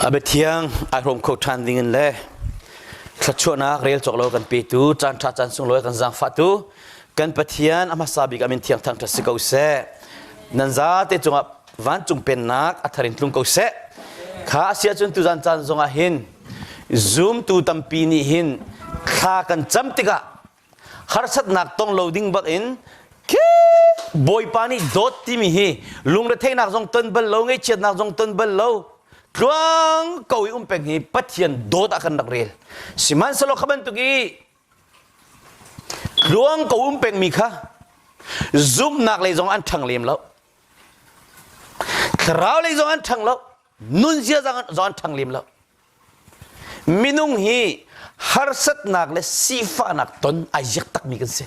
A biathiang ai hrawm kho ṭhan ding in le thluachuahnak rel cawk lo kan petu caan ṭha caan sunglawi kan zaangfahtu kan Pathian a hmasa bik ah min thiang thangṭhat si ko seh. Nan zate cungah vancung pennak a thar in tlung ko seh. Kha a si ahcun tuzan caan zongah hin zumtu tampi nih hin thla kan cam tikah harsatnak tong lo ding bak in Bawipa nih dawt timi hi lungretheinak zong ton bal lo ngaichiatnak zong ton bal lo tluang ko i um peng hi Pathian dawt ah kan rak rel sihmanhsehlaw kha bantuk i tluang ko um peng mi kha zumhnak lei zong an ṭhang lem lo thlarau lei zong an ṭhang lo nunzia zawn ṭhang lem lo minung hi harsatnak le sifahnak ton ai ziak takmi kan si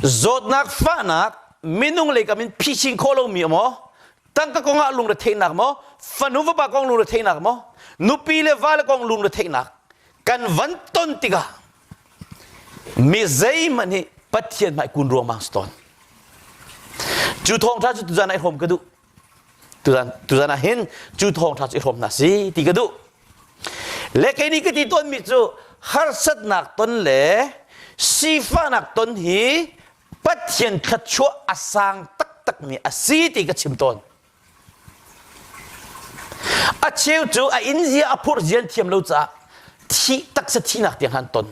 zawtnak fahnak minung lei kam in phisin khawh lomi maw tangka kong ah lungretheihnak maw fanu vapa kong lungretheihnak maw nupi le vale kong lungretheihnak kan van ton tikah mi zeihmanh hi pathian hmai kun ruangmang si tawn cu thawng ṭha cu tuzan ai hrawm ka duh Tuzan tuzan ah hin cu thawngṭha cu i hrawm hna si ti ka duh. Le kei nih ka ti tawnmi cu harsatnak ton le sifahnak ton hi Pathian thluachuah a sang taktakmi a si ti ka chim tawn. A cheu cu a in zia a phurh zian thiam lo caah thi taksa thihnak tiang han ton.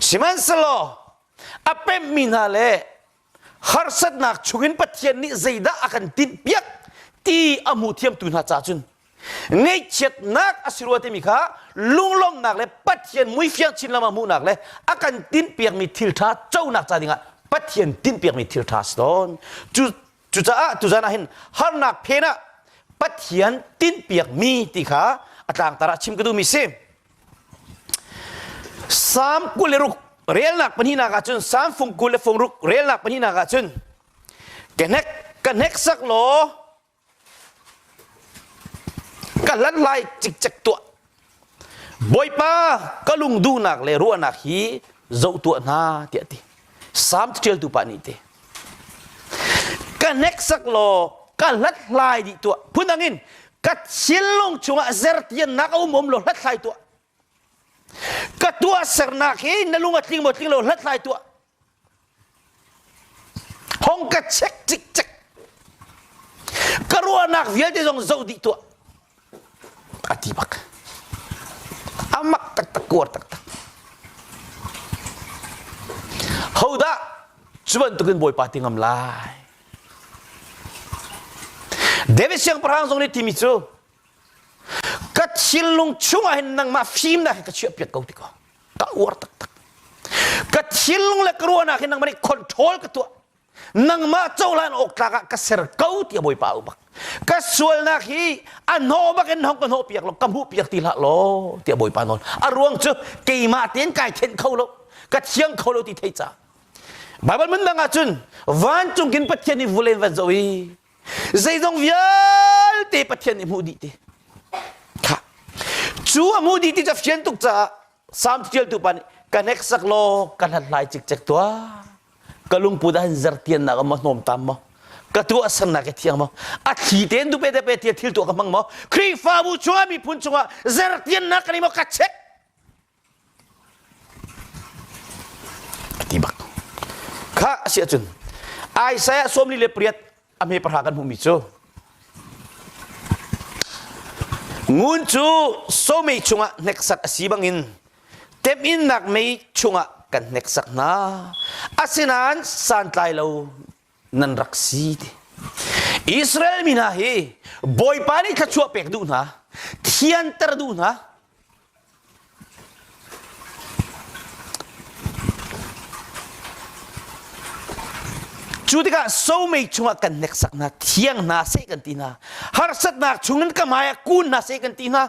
Sihmanhsehlaw a pemhmi hna le harsatnak chungin Pathian nih zeidah a kan tinhpiak ti a hmu thiamtu hna ca cun ngaihchiatnak a si rua timi kha lunglawmhnak le Pathian muifiang chin lam a hmuhnak le a kan tinhpiakmi thil ṭha conak ca dingah Pathian tinhpiakmi thil ṭha a si tawn cu cucaah tuzan ah hin harnak phen ah Pathian tinhpiakmi ti kha a tlangtar ah chim ka duhmi si Psalm kul le ruk relnak pahnihnak ah cun Psalm fung kul le fung ruk relnak pahnihnak ah cun ka hnek ka hnek sak law ka hlan lai cikcek tuah Bawipa ka lung duhnak le ruahnak hi zoh tuah hna tiah ti Salm ṭialtu pa nih te ka hneksak law ka hlathlai dih tuah phundang in ka thinlung chungah zertiannak a um um law hlathlai tuah ka tuahsernak hi na lung a tling maw tling lo hlathlai tuah hong ka check cik cek ka ruahnak vialte zong zoh dih tuah a ti bak a mak taktak kuar taktak hodah cu bantukin bawipa ti ngam lai David siangpahrang zong nih timi cu ka thinlung chungah hin nangmah fim na hi ka chiah piat ko tiko ka uar taktak ka thinlung le ka ruahnak hi nangmah nih control ka tuah nangmah cohlan awk tlak ah ka ser ko tiah bawipa u bak ka sualnak hi a hnawh bak in hong ka hnawh piak lo ka hmuh piak ti hlah law tiah bawipa nawn a ruang cu keimah tein kai khen kho lo ka thiang kho lo ti thei ca Bible mun dang ahcun vancung kin Pathian nih vulen van zo i zeizong vialte Pathian nih hmuh dih ti kha cu a hmuh dih ti ca fian tuk caah Psalm thialtu pa nih ka nek sak law ka hlathlai cikcek tuah ka lungput ah hin zertiannak a ma hnawm tam maw ka tu a sernak i thiang maw a thli tein du pe de pe tia thil tu ka hmang maw khrihfabu chua miphun chungah zertiannak kan i maw ka check a ti bak kha a si ahcun Isaiah sawmli le pariat a hme pahra kan hmuhmi cu ngun cu somei chungah hneksak a si bangin temhinnak mei chungah kan hneksak hna asinain santlai lo nan rak si ti Israel mi hna hi Bawipa nih thluachuah pek duh hna thianter duh hna Cu tikah somei chungah kan hneksak hna, thiang hna seh kan ti hna, harsatnak chungin ka hmaiah kun hna seh kan ti hna.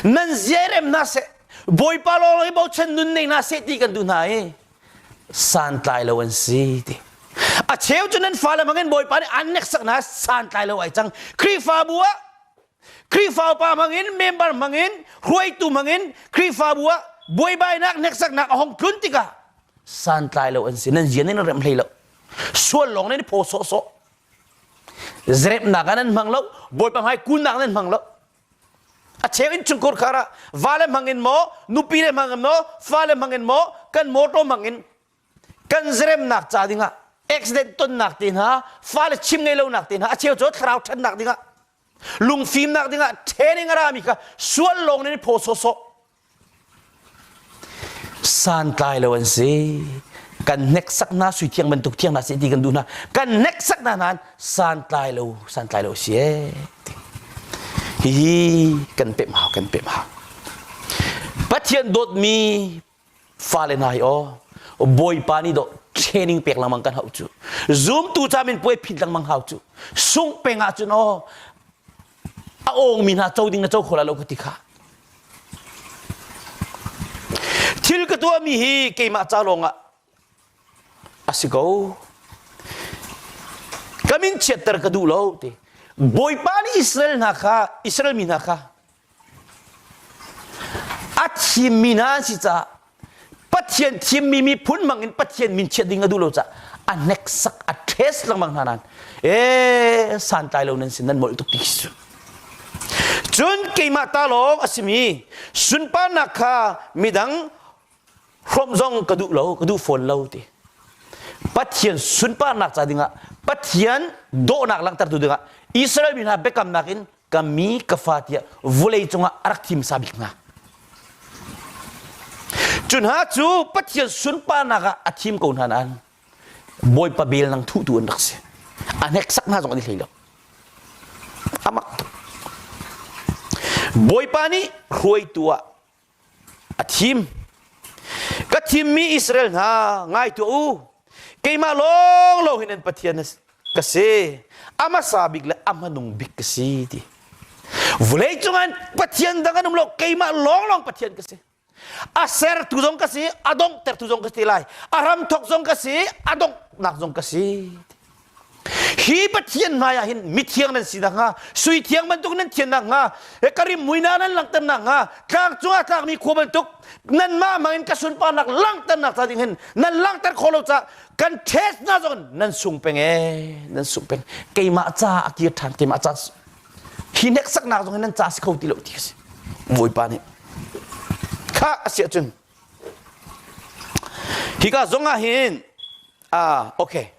Nan ziarem hna seh, Bawipa lawng i bochan nun nei hna seh ti kan duh hna i santlai lo an si ti. A cheu cu nan fale bangin Bawipa nih an hneksak hna santlai lo ai cang. Khrihfabu ah Khrihfa upa hmangin member hmangin hruaitu hmangin Khrihfabu ah buaibainak hneksaknak a hong tlun tikah santlai lo an si nan zian in rem hlei lo sual lawng nan i phaw sawhsawh zarepnak ah nan hmang lo bawipa hmai kunnak nan hmang lo a cheu in chungkhur khar ah va le hmangin maw nupi le hmangin maw fa le hmangin maw kan motor hmangin kan zaremnak ca dingah accident tonnak te hna fa le chim ngei lonak te hna a cheu cu thlarau ṭhannak dingah lungfimnak dingah training a rami kha sual lawng in phaw sawsawh santlai lo an si kan hneksak hna sui thiang bantuk thiang hna si ti kan duh hna kan hneksak hna nan santlai lo santlai lo si e hihi kan pe ma kan pe ma pathian dawtmi fale hna hi aw bawipa nih daw training pek lengmang kan hau cu zumtu ca min puai phit lengmang hau cu sung peng ah cun aw a ongmi hna co ding na co kho la lo ka ti kha thil ka tuahmi hi keimah ca lawng ah a si ko ka min chiatter ka duh lo te bawipa nih Israel hna kha Israel mi hna kha A thimmi hna an si caah Pathian thimmi miphun bangin Pathian min chiat ding a duh lo caah a hneksak a ṭhes lengmang hna nain ee santlai lo nan sin nan molh tuk ti khi cun keimah ta lawng a simi sunparnak kha midang hrawmh zong ka duh lo ka duh fawn lo ti Pathian sunparnak ca dingah Pathian dawhnak langhtertu dingah Israel mi hna biakamnak in ka mi ka fa tiah vulei cungah a rak thimsa bik hna cu hna cu pathian sunparnak ah a thim ko hna nain bawipa bel nang thutu an rak si a hneksak hna zong an i hlei lo amak tuk bawipa nih hruaitu ah a thim ka thimmi Israel hna ngai tuah u keimah lawnglawng hin an Pathian ka si a hmasa bik le a hmanung bik ka si ti vawlei cungah Pathian dang an um lo keimah lawnglawng Pathian ka si a sertu zong ka si a donghtertu zong ka si ti lai a ram thawk zong ka si a donghnak zong ka si hi pathian hmaiah hin mithiang nan si nakhnga suithiang bantuk nan thian nakhnga karim muina nan langhter nakhnga tlang cungah tlakmi khua bantuk nanmah mangin ka sunparnak langhternak ca ding hin nan langhter khawh lo cah kan test hna zong nan sung peng ee nan sung peng keimah ca a kir ṭhan keimah ca hi hneksaknak zong hin nan ca si kho ti lo ti kasi bawipa nih kha a si ahcun Hika zongah hin ah okay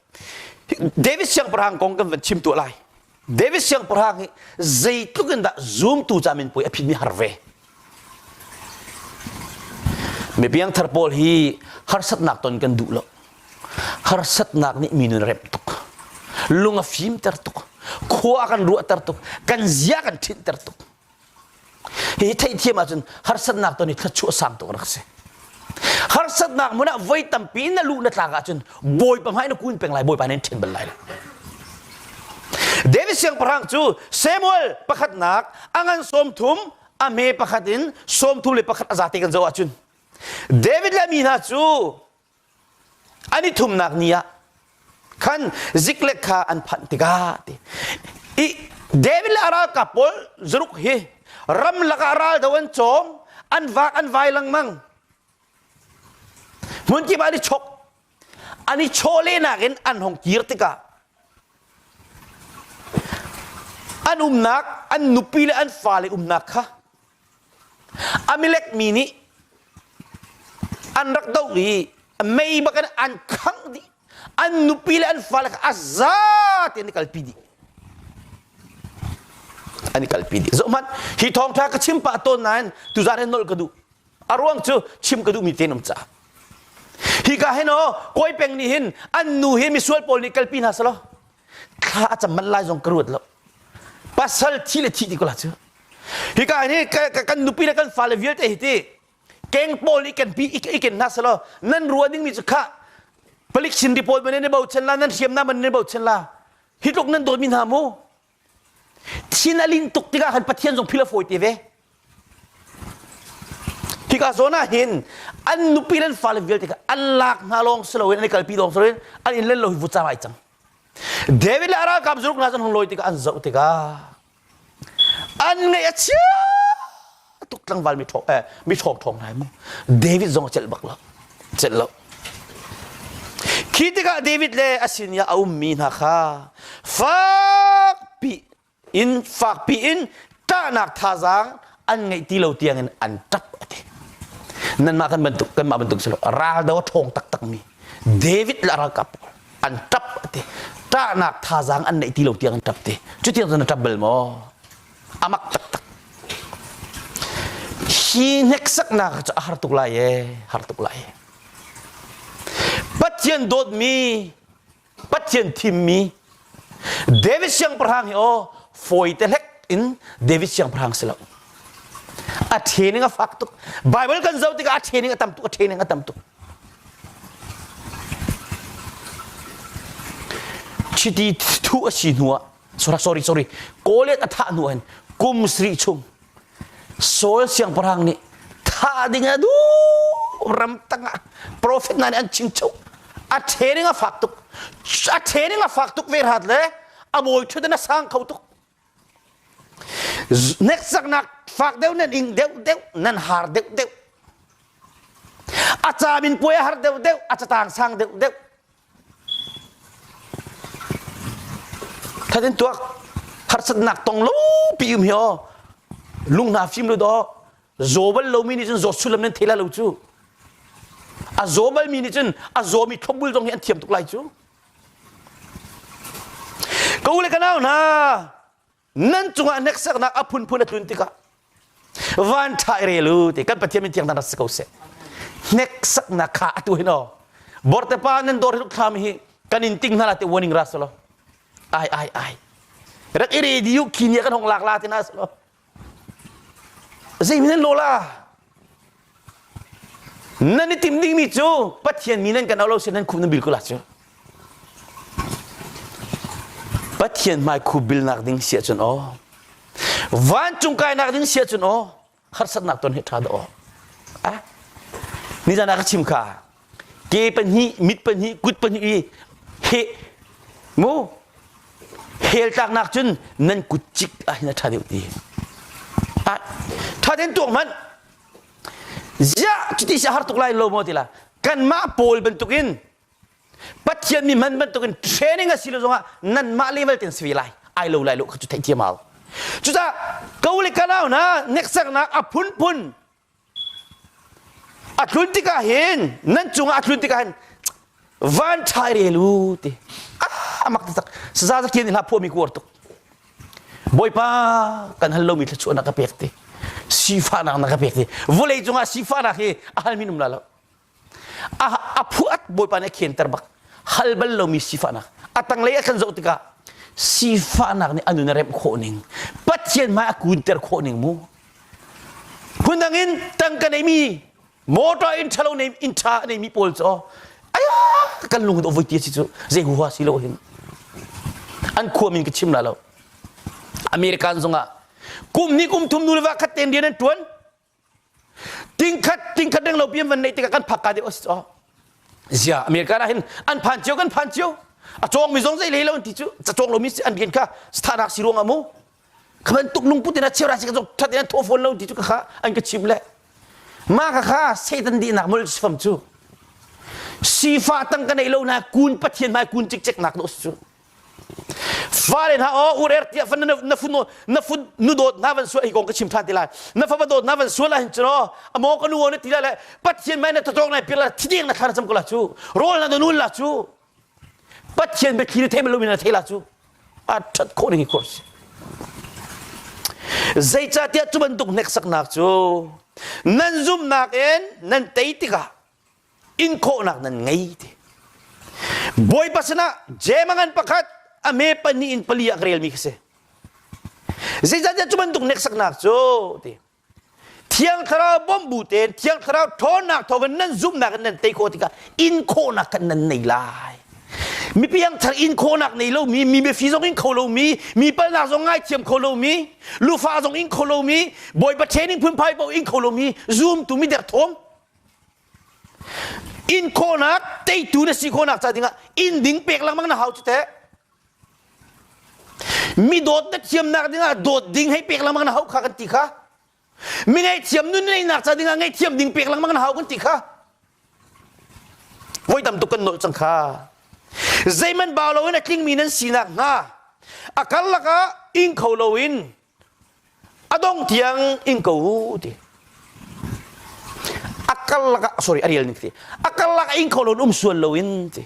David siangpahrang kong kan van chim tuah lai. David siangpahrang hi zeitluk in dah zumtu camin puai a phitmi har ve. Mipiang thar pawl hi harsatnak ton kan duh lo. Harsatnak nih minu in rem tuk. Lung a fimter tuk. Khua a kan ruahter tuk. Kan zia kan thinter tuk. Hi theihthiam ahcun harsatnak ton i thluachuah sang tuk rak si. Harsatnak hmun ah voi tampi na luh na tlak ahcun bawipa hmai na kun peng lai bawipa nih ṭhen bal lai lo. David siangpahrang cu Samuel pakhatnak a ngan sawm thum a me pakhat in sawm thum le pakhat a zate kan zoh ahcun David le mi hna cu an i thumnak ni ah khan ziklek kha an phanh tikah ti i David le a ralkap pawl zaruk hi ramlak ah ral do an cawm an vaak an vai lengmang hmun kip an i chok an i chawlehnak in an hong kir tikah an umnak an nupi le an fale umnak kha Amilek mi nih an rak doh i mei bak in an khangh dih an nupi le an fale kha a za tein an i kalpi dih an i kalpi dih zoh hmanh hi thawngṭha ka chim pah tawn nain tuzaan hin nolh ka duh a ruang cu chim ka duhmi tenum caah hika hin aw kawi peng nih hin an nu hi misual pawl nih kalpi hna selaw thla a cam manh lai zong ka ruat lo pasal thi le thi ti ko la cu hika hi kan nupi le kan fale vialte hi ti keng pawl i ken pi i ken na selo nan ruah ding mi cu kha palik sin report man ne bochan la nan hriam na man ne bochan la hi tluk nan dawt mi hna mu thin a lin tuk tikah kan pathian zong phila fawi te ve Hika zawn ah hin an nupi le an fale vialte kha an lak hna lawng si loin an i kalpi lawng si loin an in len lo hi vutcaam ai cang. David le a ralkap zuruk hna cu an hung lawi tikah an zoh tikah an ngaih a chia tuk tlangval mi ṭhawng eh, mi ṭhawng ṭhawng hna mu. David zong a celh bak lo. Celh lo. Khi tikah David le a sin i a ummi hna kha fakpi inn fakpi in ṭahnak thazaang an ngeih ti lo tiangin an ṭap a ti nanmah kan bantuk kanmah bantuk si lo raldo a ṭhawng taktakmi David le ralkap an ṭap a ti ṭahnak thazaang an neih ti lo tiang an ṭap ti cutiang cun an ṭap bal maw a mak taktak hi hneksaknak cu a har tuk lai ee har tuk lai pathian dawtmi Pathian thimmi David siangpahrang hi aw fawi te hlek in David siangpahrang si lo a training a fak tuk Bible kan zoh tikah a training a tam tuk a training a tam tuk chiti thu a si hnu ah Surak sorry sorry Goliath a thah hnu hin kum sri chung Saul siangpahrang nih thah ding a duh ram tang ah profet hna nih an chimchuk a training a fak tuk a training a fak tuk ve rat le a mawi thut in a sang kho tuk next saknak fak deuh nan ing deuh deuh nan har deuh deuh a camin puai a har deuh deuh a catang sang deuh deuh That in tuak harsatnak tong lo pi um hi o lunghna fim lu do zawbal lomi nih cun zaw sulam nan thela lo cu a zawbal mi nih cun a zawmi thlopbul zong hi an thiam tuk lai cu ko le ka nau hna nan cungah hneksaknak a phunphun a tlun tikah van ṭhai re lu ti kan pathian min tiang nan rat si ko seh hneksaknak kha atu hin o bortepa nan dawr hi thlam hi kan in ting hna la te warning ra solo ai ai ai rak i rediu khini kan hong lak la te na solo zei min lo la Nan i tim dingmi cu Pathian mi nan kan auh lo si nan khum nan bil ko la cu. Pathian hmai khu bilnak ding si ahcun aw vancung kainak ding si ahcun aw harsatnak ton hi ṭha da aw. Nizan ah ka chim kha ke pahnih mit pahnih kut pahnih i heh mu hel tlak nak cun nan kut cik ah hin a ṭha deuh ti a ṭhaden tuak hmanh ziah cuti si a har tuk lai lo maw tila kanmah pawl bantuk in pathian mi hman bantuk in training a si lo zongah nanmah level ten si ve lai ai lo lai lo kha cu theih thiam hau cucah ko le kanau hna neksaknak a phunphun a tlun tikah hin nan cungah a tlun tikah hin van ṭhai rel u ti a mak taktak saza zak thian nih hla phuami kuar tuk bawipa kan hal lomi thluachuahnak ka pek ti sifahnak na ka pek ti vawlei cungah sifahnak hi a hal minum la lo a phuat bawipa nih a khianter bak hal bal lomi sifahnak a tanglei a kan zoh tikah sifahnak nih a nun a remh khawh ning pathian hmai a kunter khawh ning mu phundang in tangka neimi motor in ṭhalo neimi in ṭha neimi pawl cu aya kan lung in ovoi ti si cu zei huha si lo hin an khua min ka chim la lo american zongah kum hnih kum thum nu le va khat ten rian an ṭuan tingkhat tingkhat renglo pian van nei tikah kan phak ka deuh a si caw zia america ra hin an phan cio kan phan cio a cawng mi zong zei lei lo an ti cu ca cawng lo mi si an bian kha starak si ruang amu khaban tuk lung putin a cheura si ka zong that an tho phone lo ti cu ka kha an ka chim le ma ka kha satan di nak mul sifam cu sifa tang ka nei lo na kun pathian mai kun cik cek nak no su fale hna o urer tia fan na fun na fun nu dawt na van sual hi kong ka chim than ti lai na fa dawt na van sual la hin chro amo ka nu ne ti la le pathian mai na totong na pir la thideng na thar cham ko la chu rol na nul la chu pathian be khiri them lo min na thela chu a that ko ni ko zeicatiah tu bantuk nek saknak cu nan zumnak in nan tei tikah inkhawhnak nan ngei ti bawipa sinah jemangan pakhat a me pahnih in pali ah relmi ka si zeicahtiah cu bantuk neksaknak cu ti thiang thlarau bawm bu tein thiang thlarau ṭhawnnak thawngin nan zumhnak in nan tei khawh tikah inkhawhnak kan nan nei lai mipi thar inkhawhnak nei lomi mi biafi zong in kho lomi mi palnak zong ngaithiam kho lomi lufa zong in kho lomi bawi paṭhen in phunphai paoh in kho lomi zumtu midek thawm Inn khawhnak teitu na si khawhnak ca dingah inn ding pek lengmang na hau cu teh. Mi dawt na thiamnak dingah dawt ding hei pek lengmang na hau kha kan ti kha. Mi ngaihthiam nun neinak ca dingah ngaihthiam ding pek lengmang na hau kan ti kha. Voi tam tuk kan nolh cang kha. Zeiman ba loin a tlingmi nan sinak hnga a karlak ah ing kho loin a dong tiang ing ko ti a karlak ah sorry a rial ning ti a karlak a ing kho lo um sual lo in ti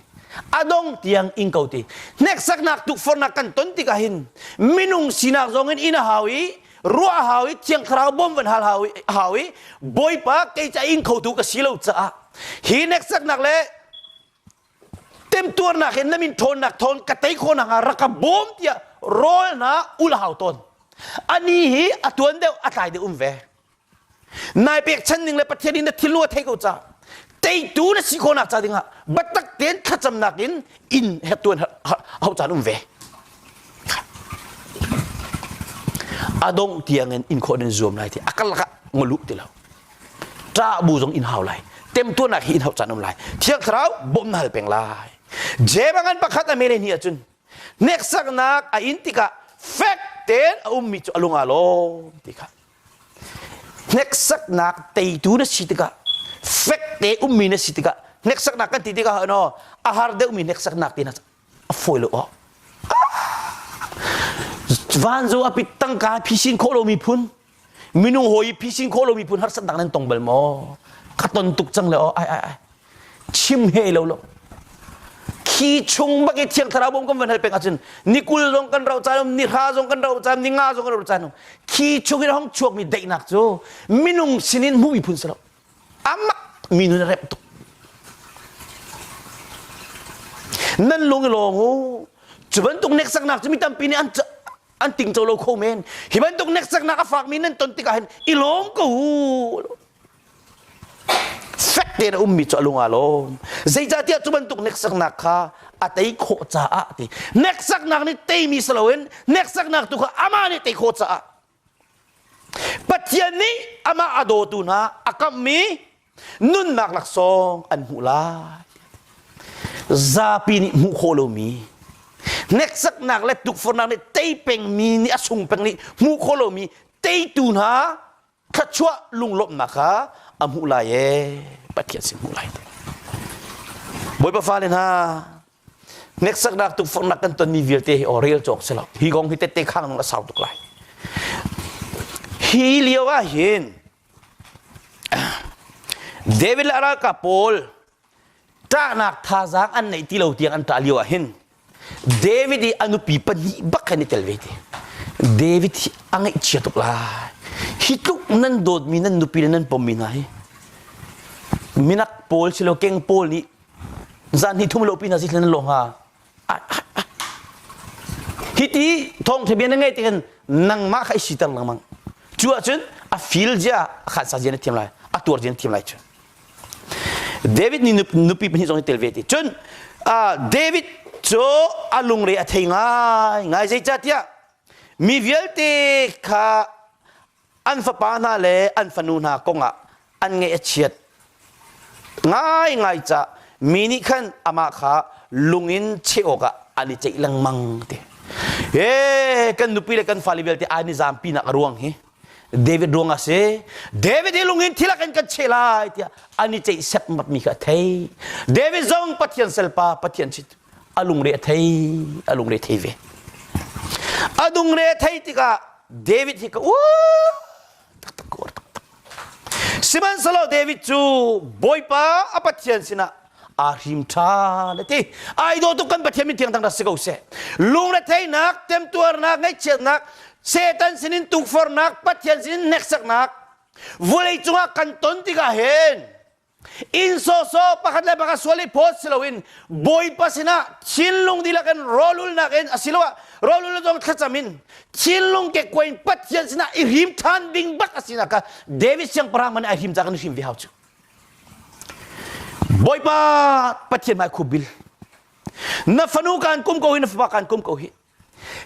a dong tiang ing ko ti nek saknak tu fornak kan ton tik ah hin minung sinak zong in in a hau i ruah hau i thiang thlarau bom van hal hau i hau i bawipa kei ca ing kho tu ka si lo caah hi nek saknak le temtuarnak in na min thawnnak thawn ka tei khawnak ah rak ka bawm tiah rawlnak ul hau tawn ani hi a tuan deuh a tlai deuh um ve nai pekchan ning le pathian in na thilnu a thei ko ca teitu na si khawnak ca dingah batak ten thlacamnak in in tuan hau caan um ve adong tiang in in khawden zuam lai ti akal laka ngolu ti lo ṭah bu zong in hau lai temtuarnak hi in hau caan um lai thiang thlarau bawmh na hal peng lai jebang an pakhat a mene ni ahcun neksaknak a in tikah fek tein a ummi cu a lung a lawm ti kha hneksaknak teitu na si tikah fek te ummi na si tikah hneksaknak kan ti tikah no a har deuhmi hneksaknak ti na a fawi lo ah van zo a pit tangka phisin khawh lo miphun minung hawi i phisin khawh lo miphun har santak nan tong bal maw khaton tuk cang le oh ai ai ai chim he lo lo khi chung bak i thiang thlarau bom kan van hal peng ahcun ni kul zong kan ro cai ni hra zong kan ro cai ni nga zong kan ro cai khi chung in hong chuak mi daihnak cu minung sinin hmuh miphun si lo Amah minu na rep tuk. Nan lung i lawm u. Cu bantuk neksaknak cu mi tampi nih an an tingco lo kho men. Hi bantuk neksaknak a fakmi nan ton tikah hin i lawm ko u. Fek tein a ummi cu a lung aa lawm. Zeicahtiah cu bantuk neksaknak kha a tei khawh caah ti. Neksaknak nih teimi si loin neksaknak tu kha amah nih tei khawh caah Pathian nih amah a dawtu hna a kamhmi nunnak laksawng an hmuh lai. Zapi nih hmuh khawh lomi hneksaknak le tukforhnak nih tei pengmi nih a sung peng nih hmuh khawh lomi teitu hna thluachuah lunglawmhnak kha a hmuh lai ee Pathian sin hmuh lai. Bawipa fale hna, Hneksaknak tukforhnak kan tonmi vialte hi orel cawk si lo. Hi kong hi tette khang nung a sau tuk lai. Hi lio ah hin David le ralkap pawl ṭahnak thazaang an neih ti lo tiang an ṭah lio ah hin David i a nupi pahnih bak kan i tel ve ti. David hi a ngaihchia tuk lai. Hi tluk nan dawtmi nan nupi le nan pommi hna hi minak pawl silo keng pawl nih zan hnih thum lo pin a si hlen lo hnga hiti thong thebia na ngei tihin nangmah kha i siter lengmang cu ahcun a fil zia a khan sa zia na thiam lai a tuar zia na thiam lai cu david nih nupi pahnih zong hi tel ve ti cun david cu a lungre a thei ngai ngai zeicahtiah mi vialte kha an fapa hna le an fanu hna kongah an ngaih a chiat ngaingai ca mi nih khan amah kha lung in cheh awkah an i ceih lengmang ti e kan nupi le kan fale vialte ai ni zam pinak a ruang hi david ruang a si david hi lung in thil ah kan kan cheh lai tiah an i ceih sep mat mi kha a thei david zong pathian selpa pathian si a lungre a thei a lungre thei ve a dungre thei tikah David hi ka uar taktak ka uar taktak. Sihmanhsehlaw David cu Bawipa a Pathian sinah aa hrim ṭhan a ti. Ai daw tuk kan Pathian min thiangthang rak si ko seh. Lungretheihnak, temtuarnak, ngaihchiatnak, Satan sinin tukforhnak, Pathian sinin hneksaknak, vawlei cungah kan ton tikah hin inn sawhsawh pakhat le pakhat sual i phawt si loin bawipa sinah thinlung dihlak in rawlulnak in asiloah rawlul le dong thlacam in thinlung kekkuai in pathian sinah i hrim ṭhan ding bat a sinak kha David siangpahrang man ai hrim cak in hrim ve hau cu bawipa pathian mai khu bil na fanu kan kum ko hi na fapa kan kum ko hi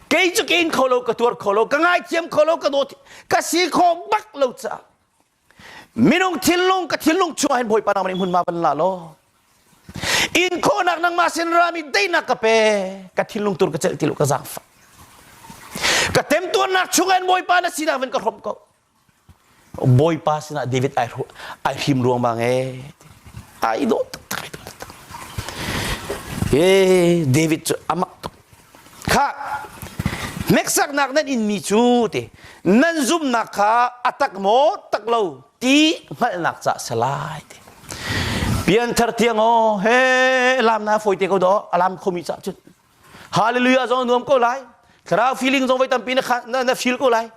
kei cu ke in kho lo ka tuar kho lo ka ngaithiam kho lo ka dawt ka si kho bak lo caah minung thinlung ka thinlung chungah hin bawipa nang hmunhma van la law in khawhnak nangmah sin rami teinak ka pe ka thinlung tur ka celh ti lu ka zaangfa ka temtuarnak chungah in bawipa na sinak ven ka hrom ko bawipa sinah david ai ai hrim ruang bang e ai do tak tak Hey, David cu amak tuk khah hneksaknak nan inmi cu ti nan zumnak kha a tak maw tak lo ti hngalhnak ca a si lai ti pianthar tiang aw he alam na fawi te ko daw alam khomi ca cun hallelujah zong nuam ko lai thlarau feeling zong voi tampi na na feel ko lai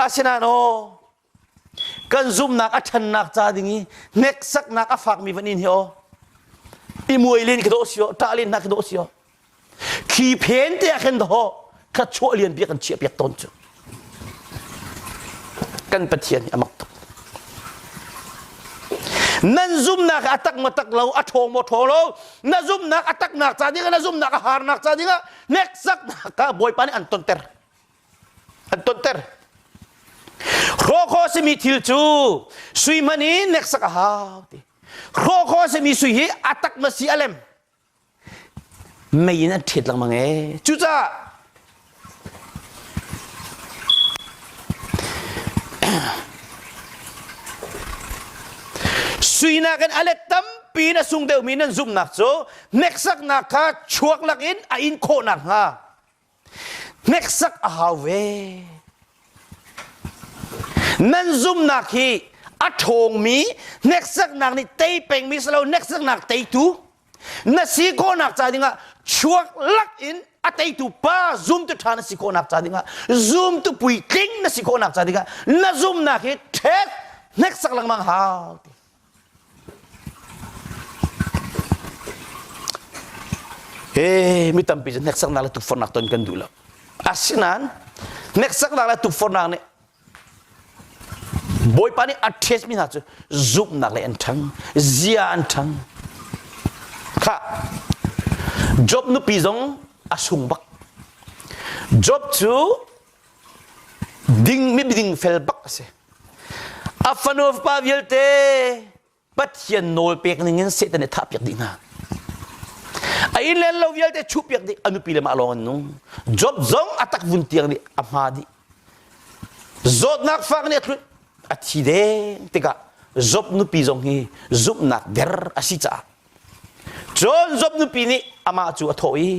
asinain aw kan zumnak a ṭhannak ca ding i hneksaknak a fakmi van in hi aw i muai len khi dawh si aw ṭah len hna khi dawh si aw khi phen te ah khan daw kha chuah lian bia kan chiah piak tawn cu kan pathian hi a mak tuk nan zumnak a tak ma tak lo a ṭhawng maw ṭhaw lo na zumnak a taknak ca dingah na zumnak a harnak ca dingah hneksaknak ah bawipa nih an tonter an tonter hrawkhaw simi thil cu sui hman in neksak a hau ti hrawkhaw simi sui hi a tak ma si a lem mei in an ṭhet lengmang e cucaah suinak in a let tampi in a sung deuhmi nan zumhnak cu hneksaknak kha chuak lakin a in khawh nakhnga Hneksak a hau ve. Nan zumnak hi a ṭhawngmi hneksaknak nih tei pengmi si lo hneksaknak teitu na si khawhnak ca dingah chuak lak in a teitu pa zumtu ṭha na si khawhnak ca dingah zumtu puitling na si khawhnak ca dingah na zumnak hi ṭhek hneksak lengmang hau ti Hey, mi tampi cu hneksaknak le tukforhnak ton kan duh lo. Asinain hneksaknak le tukforhnak nih Bawipa nih a test mi hna cu zumhnak le an ṭhang, zia an ṭhang. Kha Job nupi zong a sung bak. Job cu ding mi ding fel bak a si. A fanu fapa vialte Pathian nawl pek ning in Satan nih thah piak dih hna. A inn len lo vialte chuh piak dih a nupi le mah lawng an nung. Job zong a tak vun tiang nih a hma dih. Zawtnak fak nih a thlut a thi deng tikah Job nupi zong hi zumhnak der a si caah Cun Job nupi nih amah cu a thawh i,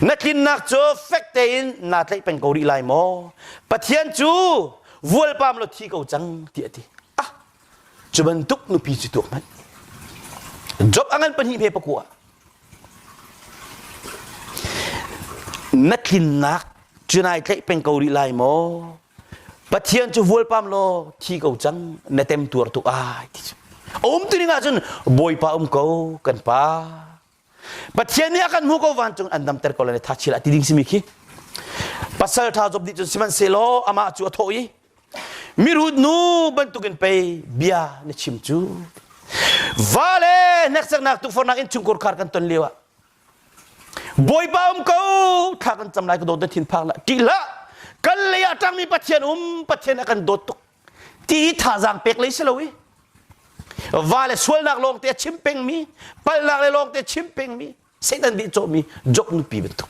Na tlinnak cu fek tein naa tlaih peng ko rih lai maw? Pathian cu vualpam law thi ko cang, tiah a ti. Ah, cu bantuk nupi cu tuah hmanh. Job a ngan pahnih ve pakua. Na tlinnak cu nai tlaih peng ko rih lai maw? Pathian cu vualpam law thi ko cang na tem tuar tuk ai ti cu a um tu ning ahcun Bawipa um ko kan pa Pathian nih a kan hmuh ko vancung an damter ko lai tha chil a ti ding simi khi pasal tha Job nih cun sihmanhsehlaw amah cu a thawh i mirut nu bantukin pei bia na chim cu vale hneksaknak tukforhnak in chungkur khar kan ton lio ah Bawipa um ko thla kan cam lai ka dawt thin phak la ti la kan lei ah tangmi pathian um pathian a kan dawt tuk ti thazaang pek lei si lo i va le sualnak lawng te chim pengmi palhnak le lawng te chim pengmi satan dih cawhmi job nupi bantuk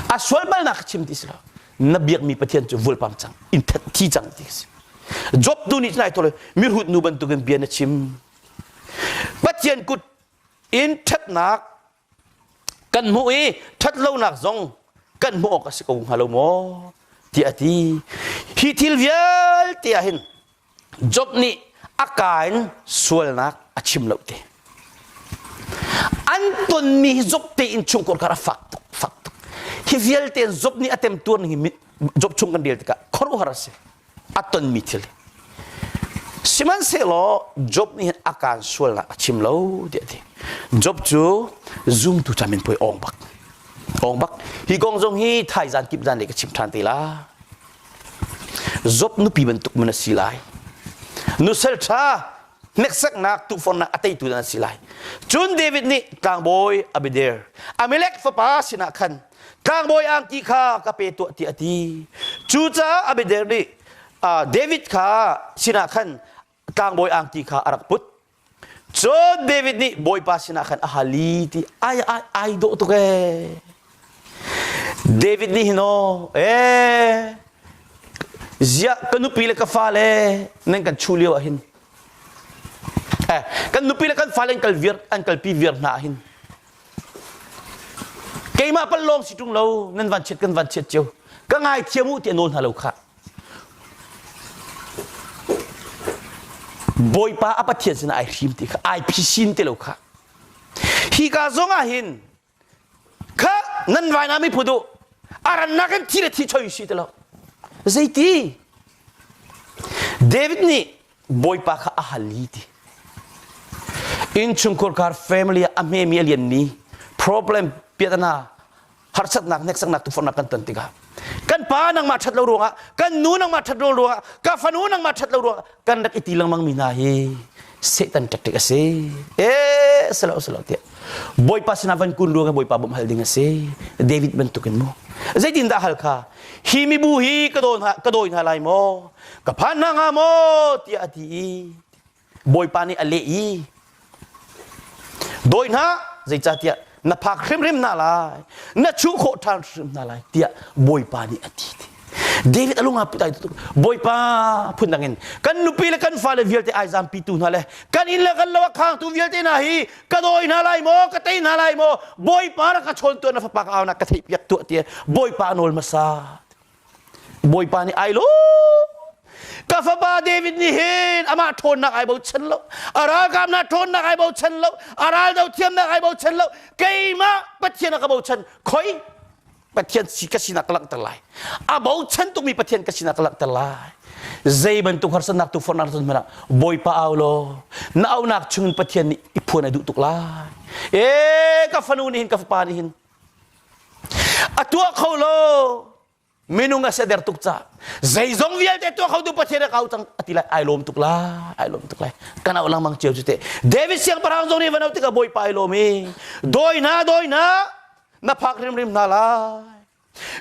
a sual balnak chim ti si lo na biakmi pathian cu vulpang cang in that thi cang ti si job tu nih tlai tole mirhut nu bantukin bia na chim pathian kut in ṭhatnak kan hmuh i ṭhat lonak zong kan hmuh awk a si ko hnga lo maw tiah a ti hi thil vialte ah hin job nih a ka in sualnak a chim lo te an tonmi hi job tein chungkor kar a fak tuk fak tuk hi vialte in job nih a temtuar ning hi job chung kan rel tikah khuaruahhar a si a tonmi thil sihmanhsehlaw Job nih a kaan sualnak a chim lo tiah a ti Job cu zumtu cam in poi awng bak awng bak hi kong zong hi thaizan kip zan lei ka chim ṭhan te la Job nupi bantuk man a si lai nusal ṭha hneksaknak tuhfornak a teitu dan a si lai cun David nih tlangbawi Abidair Amalek fapa sinah khan tlangbawi angki kha ka pe tuah tiah a ti cucaah Abednego nih David kha sinah khan tlangbawi angki kha a rak put cun David nih Bawipa sinah khan a hal i ti ai ai ai dawh tuk ee David nih hin aw ee ziah ka nupi le ka fale nan kan chuh lio ah hin eh kan nupi le kan fale an kal viar an kalpi viar hna ah hin Keimah palh lawng si ṭung lo, nan van chiat kan van chiat cio. Ka ngaithiam u ti a nawl hna lo khah. Bawipa a Pathian sinah ai hrim ti kha ai phisin ti lo khah. Hi ka zongah hin kha nan vaina mi phudu arannak in thi le thi choi si ti lo. Zeiti? David nih Bawipa kha a hal i ti. Innchungkhur kar family a hmemi a lianmi problem piatana harsatnak hneksaknak tufornak kan ton tikah kan pa nangmah ṭhat lo ruangah kan nu nangmah ṭhat lo ruangah ka fanu nangmah ṭhat lo ruangah kan rak i ti lengmang mi hna hi Satan ṭaṭik a si eh selo selo tiah Bawipa sinah van kun ruangah Bawipa bawmh hal ding a si David bantukin mu zeitin dah hal kha hi mibu hi ka dawi hna ka dawi hna lai maw ka phan hna hnga maw tiah a ti i bawipa nih a leh i dawi hna zeicahtiah na phak hrimhrim hna lai na chuh khawh ṭhan hrimhrim hna lai tiah bawipa nih a ti David a lungah putai tuk bawipa phun dangin kan nupi le kan fale vialte ai zampitu hna le kan inn le kan lo a khangtu vialte hna hi ka dawi hna lai maw ka tei hna lai maw bawipa rak ka chawn tuan na fapa ka au na ka theih piak tuah tiah bawipa nawl hmasa Bawipa nih ai lo ka fapa David nih hin amah ṭhawnnak ai bochan lo a ralkapnak ṭhawnnak ai bochan lo a ral do thiamnak ai bochan lo keimah Pathian a ka bochan khoi Pathian si ka sinak ka langhter lai a bochan tukmi Pathian ka sinak ka langhter lai zei bantuk harsatnak tu fornak ton hmanah Bawipa au law na aunak chungin Pathian nih i phuan ai duh tuk lai e ka fanu nih hin ka fapa nih hin A tuah kho lo minung a siader tuk ca zeizong vialte tuah khotu Pathian a kau cang a ti lai ai lawm tuk la ai lawm tuk lai kan auh lengmang cio cu te David siangpahrang zong nih van auh tikah Bawipa ai lawm i dawi na dawi na na phak hrimhrim hna lai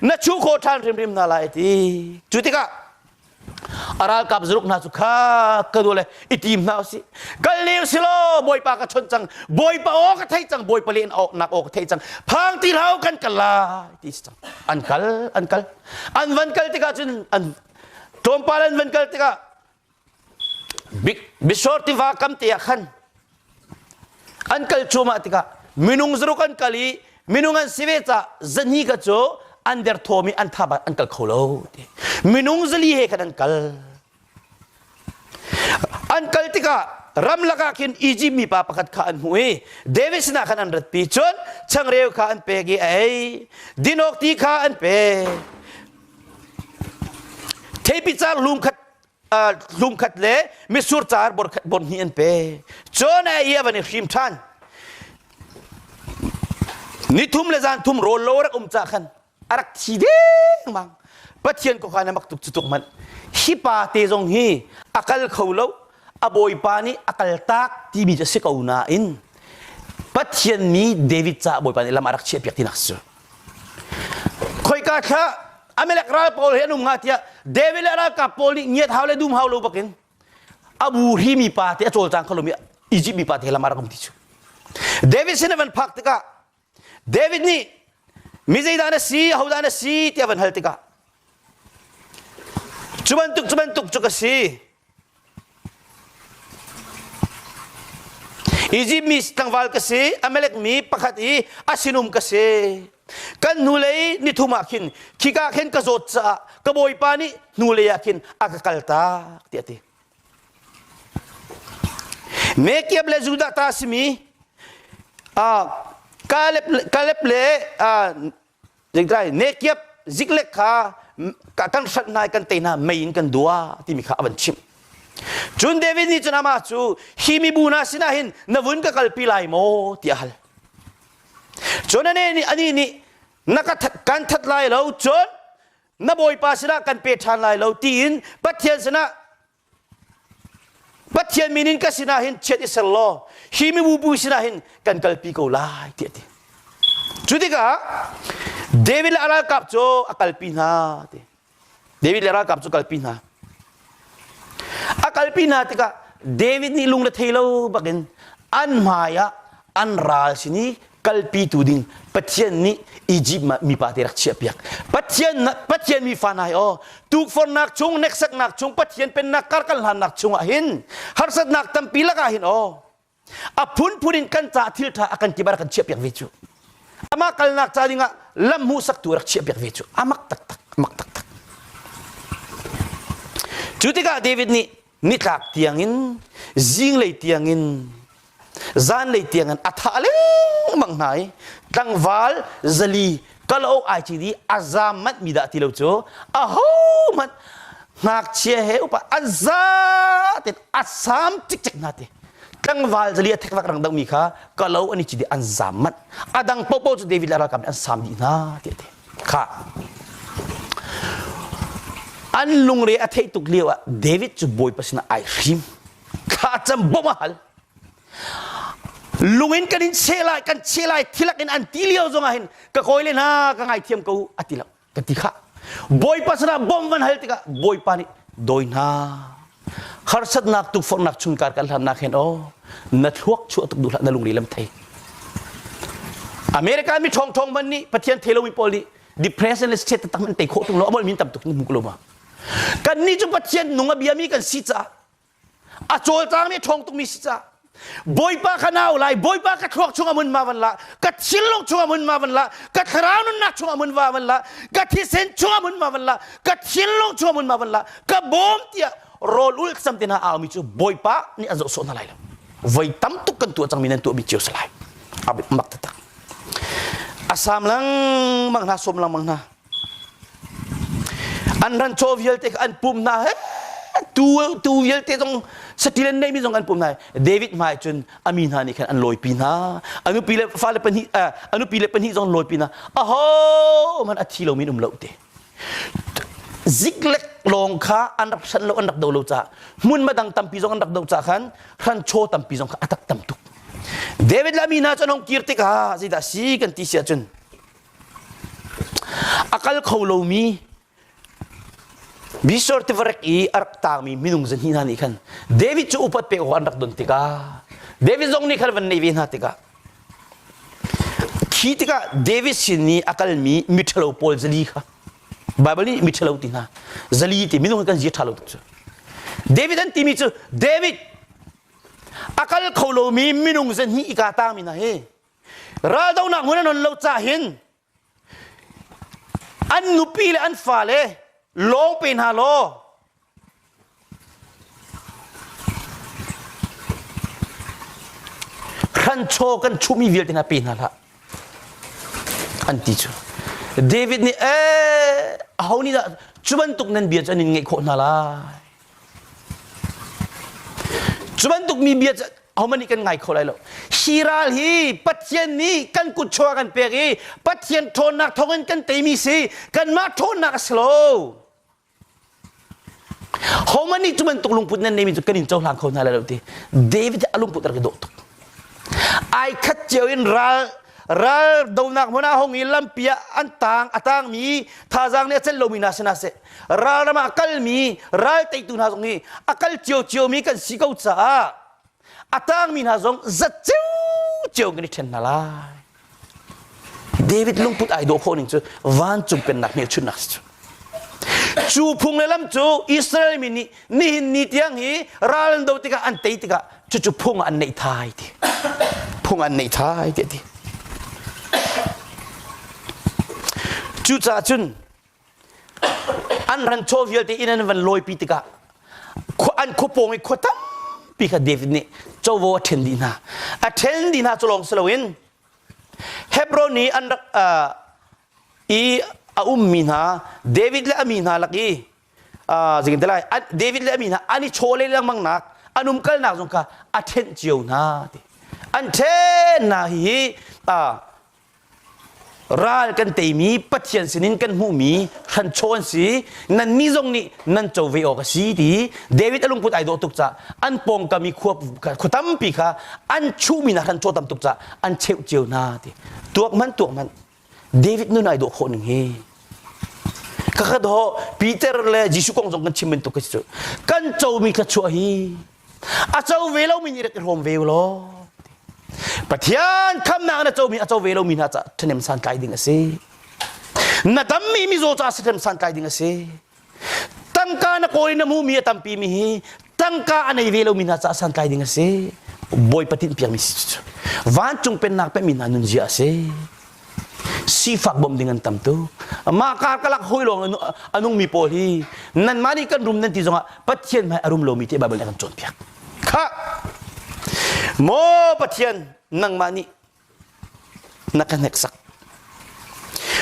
na chuh khawh ṭhan hrimhrim hna lai ti cu tikah a ralkap zaruk hna cu kha ka dua le i tim hna usih kal lir silaw bawipa ka chawnh cang bawipa aw ka thei cang bawipa len nak aw ka thei cang phang ti hau kan kal lai ti si cang an kal an kal an van kal tikah cun an tlawmpal an van kal tikah big bishor tiva kam te ah khan an kal cuahmah tikah minung zaruk an kal i minung an si ve caah zahni ka cu an derthawm i an thaba an kal kho lo ti minung zali he khan an kal an kal tikah ramlak ah khin Egypt mi pa pakhat kha an hmuh i David sinah khan an ratpi cun changreu kha an pek i a ei dinok ti kha an pek theipicar lung khat zumkhat le misur car bon hnih an pe cun ia van i hrim ṭhan ni thum le zan thum rawl lo rak um ca khan a rak thi deng mang pathian ko khan mak tuk cu tuk manh hi pa te zong hi a kal kho lo a bawipa nih a kal tak timi cu si ko nain pathian mi david ca bawipa nih lam a rak chiah piak tinak cu khoika kha Amalek ral pawl hi an um nga tiah David le ralkap pawl nih ngiat hau le dum hau lo bakin abu hi mi pa te a cawlcang kho lomi Egypt mi pa te lamar ram ti chu David sin van phak tikah David nih mi zeidah na si hodah na si tiah van hal tikah cu bantuk cu bantuk cu ka si Izipt mi tlangval ka si, Amalek mi pakhat i a sinum ka si. Kan hnulei nithum ah khin khika khin ka zawt caah ka bawipa nih hnulei ah khin a ka kal tak tiah ti. Mekeb le Judah ta simi Kaleb, Kaleb le Zingkai nekiap ziklek kha kan hrat nai kan te hna mei in kan dua timi kha a van chimh. Cun David nih cun amah cu hi mibu hna sinah hin na vun ka kalpi lai maw ti a hal. Cun anih nih ani nih na ka that, kan that lai lo cun na bawipa sinah kan pe ṭhan lai lo tiin Pathian sinah Pathian min in ka sinah hin chiat i ser law hi mibubu sinah hin kan kalpi ko lai tiah ti. Cu tikah David le a ralkap cu a kalpi hna ti. David le ralkap cu kalpi hna. A kalpi hna tikah David nih lung rethei lo bakin an hmaiah an ral sin i kalpitu ding Pathian nih Egypt mipa te rak chiahpiak Pathian Pathian mi fa nai aw tukfornak chung neksaknak chung Pathian pennak karkal hlannak chungah hin harsatnak tampi lakah hin aw a phunphun in kan ca thil tha akan kibar kan chiahpiak ve cu ama kalnak ca dingah lam hmuhsaktu rak chiahpiak ve cu amak tak tak amak tak tak cu tikah David nih nitlak tiangin zinglei tiangin zanlei tiangin a thah lengmang hna i tlangval zali kalo ai ci di a zam manh mi dah ti lo cu a ho hmanh ngakchia he upa an za ten a sam cik cik hna ti tlangval zali a thekvak rang domi kha kalo an i ci di an zam manh a dang popo cu david le ralkap nih an sam dih hna ti ti khah an lungre a theih tuk lio ah David cu Bawipa sinah ai hrim kha cam bom a hal lung in kan in cheh lai kan cheh lai thilak in an ti lio zong ah hin ka kawi le hna ka ngaithiam ko a ti lo ka ti khah Bawipa sinah bom van hal tikah Bawipa nih dawi hna harsatnak tukforhnak chung kar kan hlamnak hen o na thluak chuah tuk duhlah na lungri lam thei america mi thong thong man nih pathian thelo in paul nih depression le state tam an tei khawh tung lo amol min tam tuk mu lo ma kan ni chu pathian nung a bia mi kan si ca a col tang mi thong tuk mi si ca Bawipa ka nau lai Bawipa ka thluak chungah mun ma van la ka thilung chungah mun ma van la ka thlarau nunnak chungah mun ma van la ka thisen chungah mun ma van la ka thilung chungah mun ma van la ka bawm tiah rol ul sam te na aumi cu Bawipa nih an zoh sawh na lai lo voi tam tuk kan tuah cangmi nan tuah mi cio salai abit mak tatak asam lang mang hna som lang mang hna An ran chaw vialte an pum hna he tu tu vialte zong satil an neimi zong an pum hna David hmai cun a mi hna nih khan an lawi pi hna a nupi le fale pahnih a nupi le pahnih zong lawi pi hna aho hmanh a thi lomi um lo te ziklek lawng kha an rak hran lo an rak do lo caah hmun madang tampi zong an rak do caah khan hranchaw tampi zong kha a tak tam tuk David le a mi hna cu an hong kir tikah zeidah a si kan ti si ahcun A kal kho lomi Bisor tivarek i a rak tangmi minung zahnih hna nih khan David cu upat pek awk an rak don tikah David zong nih khan van neih ve hna tikah khi tikah David sin i a kalmi miṭhalo pawl zali kha Baibal nih miṭhalo ti hna zali ti minung hi kan zi ṭha lo tuk cu David an timi cu David a kal kho lomi minung zahnih i kaa tangmi hna hi Raldohnak hmun an on lo ca hin an nupi le an fale lawng pe hna law hranchaw kan chuhmi vialte hna pe hna hlah an ti cu David nih ee aho nih dah cu bantuk nan bia cu an in ngeih khawh hna lai Cu bantukmi bia cu ahohmanh nih kan ngai kho lai lo. Hi ral hi Pathian nih kan kutchaw ah kan pek i Pathian ṭhawnnak thawngin kan teimi si. Kanmah ṭhawnnak a si lo. Homan nih cu bantuk lungput nan neimi cu kan in cohlang kho hna lai lo ti. David a lungput rak i dawh tuk. Ai khat cio in ral ral donak hmun ah hong i lampi ah an tang a tangmi thazaang nih a celh lomi hna sinah sih ral ram ah a kalmi ral teitu hna zong hi a kal cio ciomi kan si ko caah a tangmi hna zong zat cio kan i ṭhen hna lai David lungput ai dawh khawh ning cu vancung pennak hmelchunhnak si cu cu phung le lam cu Israel mi nih nihin ni tiang hi ral an do tikah an tei tikah cucu phung an neih thai ti phung an neih thai ti ti cucaah cun an ran chaw vialte in an van lawi pi tikah an khuapawng i khua tampi kha David nih covo a ṭhen dih hna a ṭhen dih hna cu lawng si loin Hebron i an rak i a ummi hna David le a mi hna lak i zikintelai David le mi hna an i chawle lengmang nak an umkalnak zong kha a ṭhenh cio hna ti an ṭhennak hi ral kan teimi Pathian sinin kan hmuhmi hranchaw an si nannih zong nih nan co ve awk a si ti David a lungput ai dawh tuk ca an pawngkam i khua tampi kha an chuhmi hna hranchaw tam tuk ca an cheuh cio hna ti tuak man tuak man David nun ai dawh khawh ning hi kakhat ho Peter le Jesuh kong zong kan chim bantuk ka si cu kan comi thluachuah hi a co ve lomi nih rak i hlawm ve law Pathian khamnak na comi a co ve lomi hna caah ṭhahnem santlai ding a si na dammi mizaw caah si ṭhahnem santlai ding a si tangka na kawi na mumi a tampi mi hi tangka a nei ve lomi hna caah santlai ding a si bawipa tinh piakmi si cu vancung pennak pehmi hna nun zia a si sifak bom ding an tam tu mah kar kalak hoi lawng anungmi pawl hi nanmah nih kan rum nan ti zongah pathian hmai a rum lomi te bible nih kan cawn piak kha maw pathian nangmah nih na ka hneksak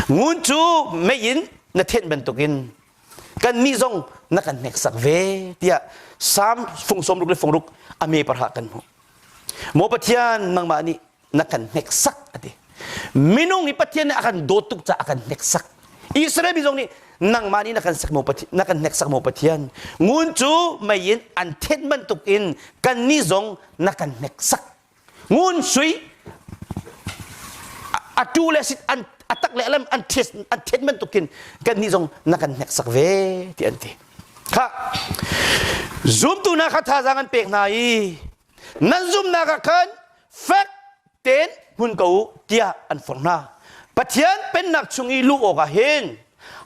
ngun cu mei in na thenh bantukin kannih zong na kan hneksak ve tiah Psalm fung sawmruk le fungruk a me parha kan hmuh maw Pathian nangmah nih na kan hneksak a ti minung nih Pathian nih a kan dawt tuk caah a kan hneksak Israel mi zong nih nangmah nih na kan sak maw Pathian na kan hneksak maw Pathian ngun cu mei in an thenh bantukin kannih zong na kan hneksak ngun sui a tu le sit an a tak le alam an thes an thet man tukin kan ni zong na kan hnek sak ve ti an ti kha zumtu na kha thazang an pek hna i nan zumnak ah khan fek ten hun ko u tiah an forh hna Pathian pennak chung i luh awk ah hin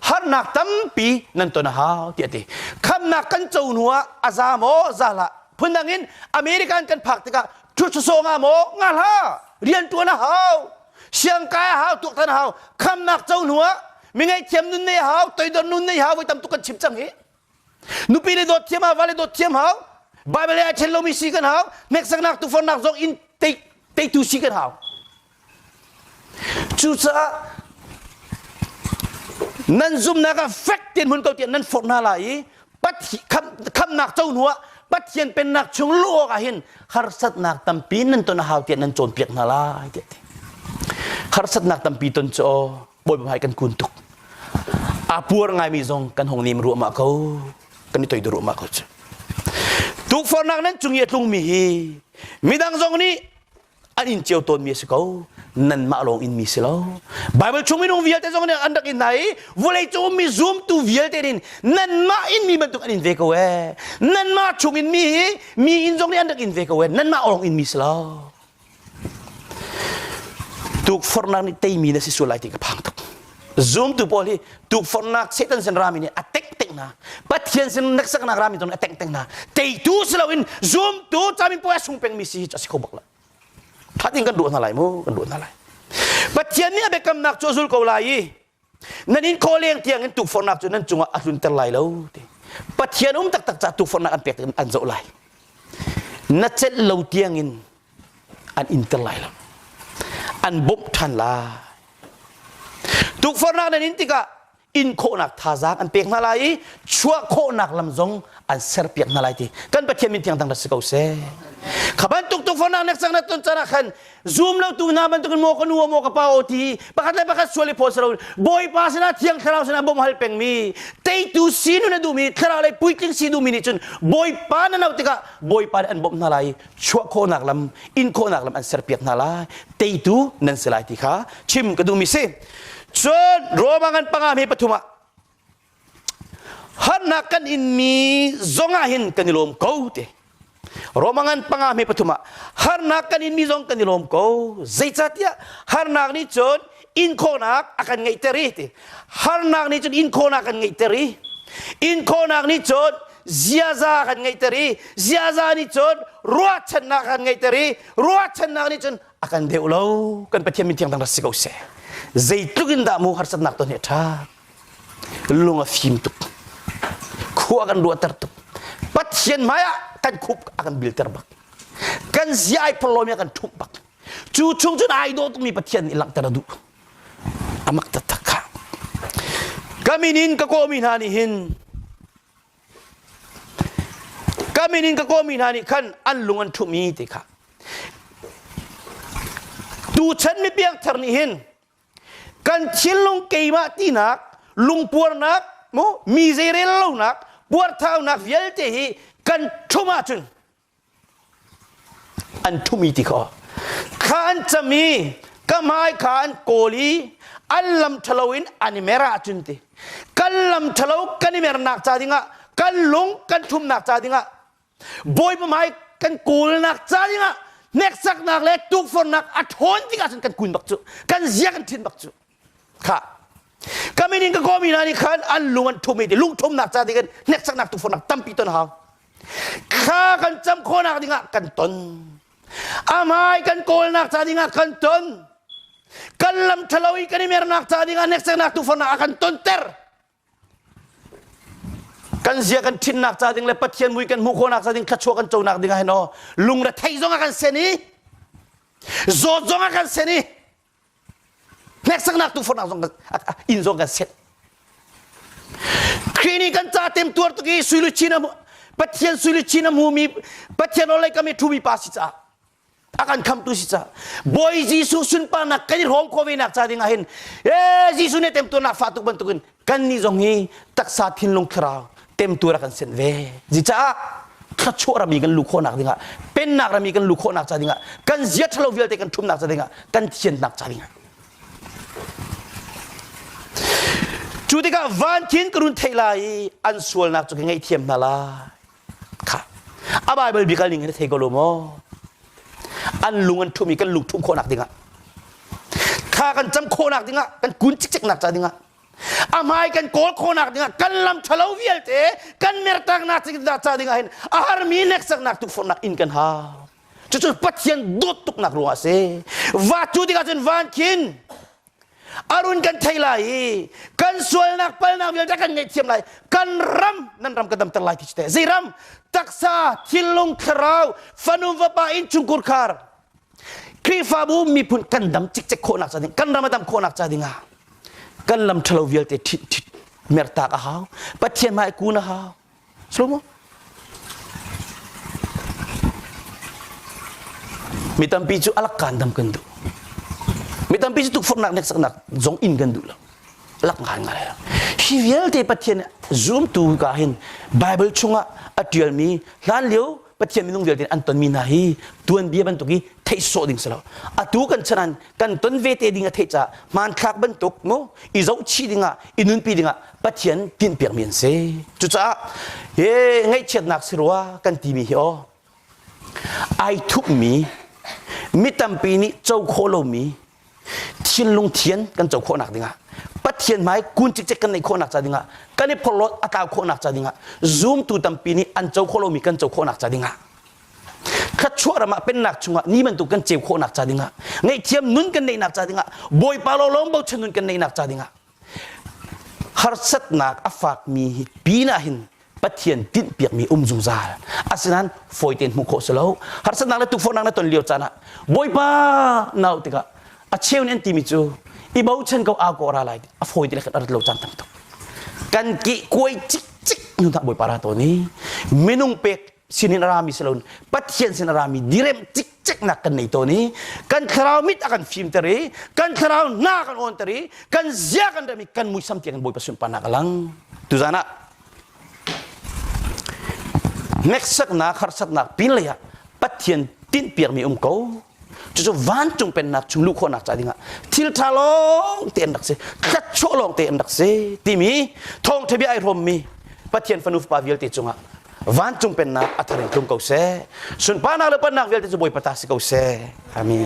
harnak tampi nan ton a hau tiah a ti khamnak kan co hnu ah a za maw za hlah phundang in american kan phak tikah ṭhutsusawng ah maw nga hlah rianṭuan a hau siangkai a hau tuaktan a hau khamnak co hnu ah mi ngaihthiam nun nei a hau toidor nun nei hau voi tam tuk kan chim cang hi nupi le dawt thiam hau vale dawt thiam hau bible ah chen lomi si kan hau hneksaknak tufornak zong in teitu si kan hau cucaah nan zumnak ah fek tian hun ko tian nan forh hna lai i khamnak co hnu ah pathian pennak chung lu awk ah hin harsatnak tampi nan ton hau tian nan cawnpiak hna lai tiah ti harsatnak tampi ton cu Bawi Babai kan kun tuk. A puar ngaimi zong kan hong nim ruahmah ko. Kan i toidu ruahmah ko cu. Tukforhnak nan cung i a tlungmi hi midang zong nih an in ceu tawnmi a si ko nanmah lawng in mi si lo bible chung minung vialte zong nih an rak in hna i vawlei cung mi zumtu vialte nin nanmah in mi bantuk an in ve ko ee nanmah chung in mi hi mi in zong nih an rak in ve ko ee nanmah lawng in mi si lo tukforhnak nih teimi na si sual lai ti ka phang tuk zumtu pawl hi tukforhnak satan sin rami nih a tengteng hna pathian sin neksaknak rami ton a tengteng hna teitu si loin zumtu camin puai sung pengmi si hi a si kho bak lo that in kan ruah hna lai mu kan ruah hna lai pathian nih a biakamnak cu a zul ko lai i nan in kawleng tiang in tukforhnak cu nan cungah a tlunter lai lo ti pathian um taktak ca tukforhnak an pek an zoh lai na celh lo tiang in an inter lai lo an bawmh ṭhan lai tukforhnak nan in tikah inkhawhnak thazaang an pek hna lai i chuah khawhnak lam zong an serpiak hna lai ti kan pathian min thiang dang rak si ko seh kha bantuk tukforhnak nek cang na ton canah khan zum lotu hna bantukin maw ka nu maw ka pa aw ti pakhat le pakhat sual i phawt salo bawipa sinah thiang thlarau sinah bawm hal pengmi teitu sinu na duhmi thlarau lei puitling si duhmi nih cun bawipa na no tikah bawipa nih an bawmh hna lai chuah khawhnak lam in khawhnak lam an serpiak hna lai teitu nan si lai ti kha chim ka duhmi si cun Roma ngan pangami pathum ah Hannak kan inmi zongah hin kan i lawm ko te. Roma ngan panga me pathum ah harnak kan inmi zong kan i lawm ko. Zeicatiah harnak nih cun inkhawhnak a kan ngeihter i ti. Harnak nih cun inkhawhnak kan ngeihter i inkhawhnak nih cun ziaza kan ngeihter i ziaza nih cun ruahchannak kan ngeihter i ruahchannak nih cun a kan deuh lo. Kan Pathian min thiang dang rak si ko seh. Zeitluk in dah mu harsatnak ton hi a ṭha. lung a fim tuk khua kan ruahter tuk pathian hmai ah kan khup a kan bilter bak kan zi ai phorlom i a kan ṭhumh bak cu chung cun ai daw tukmi pathian nih langhter a duh amak taktak kha ka min in ka kawmi hna nih hin ka min in ka kawmi hna nih khan an lung an ṭhum i ti kha tuchan mi piangthar nih hin kan thinlung keimah tinak lungpuarnak mu mi zeirel lonak puarthaunak vialte hi kan ṭhum ahcun an ṭhumi ti kho kha an cam i ka hmai kha an kawl i an lam ṭhalo in an i mer ahcun ti kan lam ṭhalo kan i mernak ca dingah kan lung kan ṭhumnak ca dingah Bawipa hmai kan kawlnak caaning ah hneksaknak le tukfornak a ṭhawn tikah cun kan kuin bak cu kan zia kan thin bak cu kha ka min in ka kawmi hna nih khan an lung an ṭhum i lungṭhumnak ca tiin hneksaknak tukfornak tampi ton hau kha kan cam khawhnak dingah kan ton a hmai kan kawlnak ca dingah kan ton kan lam ṭhalo i kan i mernak ca dingah hneksaknak tukfornak a kan tonter kan zia kan thinnak ca ding le pathian mui kan hmuh khawhnak ca ding thluachuah kan conak ding ah hin aw lungrethei zong ah kan sen i zawt zong ah kan sen i hneksaknak tufornak zong inn zong kan set Khrih nih kan ca tem tuar tuk i suiluchin a pathian suiluchin a hmumi pathian olei kam i ṭhumi pa si caah a kan khamtu si ca bawi jesuh sunparnak kan i rawm ko ve nak ca ding ah hin e jesuh nih temtu nak fa tuk bantuk in kan nih zong hi taksa thinlung thlarau temtu ra kan sen ve zi caah thrachuah rami kan lu khawhnak dingah pennak rami kan lu khawhnak ca dingah kan zia thalo vialte kan thumnak ca dingah kan thiannak ca dingah cu tikah van khin ka run thei lai i an sualnak cu ka ngei thiam hna lai kha a bible bi kal ning in thei ko lo maw an lung an thumi kan lung thum khawhnak dingah kha kan cam khawhnak dingah kan kun cikceknak ca dingah a hmai kan kawl khawhnak dingah kan lam thalo vialte kan mertaknak ca dingah hin a har mi neksaknak tukforhnak in kan ha cucu pathian dawt tuknak ruang a si va cu dingah cun van khin Arun kan thei lai i kan sualnak palnak vialte kan ngaihthiam lai kan ram nan ram ka damter lai ti te zei ram taksa thinlung thlarau fanu vapa innchungkur khar Khrihfabu miphun kan dam cikcek khawhnak ca ding kan ram a dam khawhnak ca dingah kan lam ṭhalo vialte ṭhit ṭhit mertak a hau Pathian hmai kun a hau Mi tampi cu alak kan dam kan duh. Mi tampi cu tukforhnak hneksaknak zong in kan duh lo. Alak ngai ngai. Hi vialte Pathian zumtu ka hin Bible chungah a tialmi hlan lio Pathian minung vialte an tonmi hna hi tuanbia bantuk hi theih sawh ding si lo. Atu kan chan an kan ton vete ding a theih caah hmanthlak bantuk mu i zohchih dingah i nunpi dingah Pathian tinhpiakmi an si. Cucaah he ngaihchiatnak si rua kan timi hi aw ai thupmi mi tampi nih co khawh lomi thinlung thian kan co khawhnak dingah pathian hmai kun cikcek kan neih khawhnak ca dingah kan i phorhlawn a tlau khawhnak ca dingah zumtu tampi nih an co khawh lomi kan co khawhnak ca dingah thluachuah ram ah pennak chungah ni bantuk kan ceu khawhnak ca dingah ngaihthiam nun kan neihnak ca dingah bawipa law lawng bochan nun kan neihnak ca dingah Harsatnak a fakmi hi pinah hin Pathian tinhpiakmi um zungzal asinain fawi tein hmuh khawh si lo harsatnak le tukforhnak na ton lio caan ah Bawipa nau tikah a cheu nih an timi cu i bochan ko aa kawh ra lai a fawi te le kan rat lo caan tam tuk kan ki kuai cikcik hnu tah Bawipa ra tawn i minung pek sin in a rami si loin Pathian sin a rami direm cikceknak kan nei tawn i kan thlarau mit a kan fimter i kan thlarau na kan awnter i kan zia kan rem i kan muisam tiang kan Bawipa sunparnak a lang tuzan ah hneksaknak harsatnak pinlei ah Pathian tinhpiakmi um ko cucu vancung pennak chung luh khawhnak ca dingah thil ṭha lawng te an rak si hlat chuah lawng te an rak si timi thawngṭha bia ai hrawmmi pathian fanu fapa vialte cungah vancung pennak a thareng tlung ko seh sunparnak le pannak vialte cu bawipa ta si ko seh amen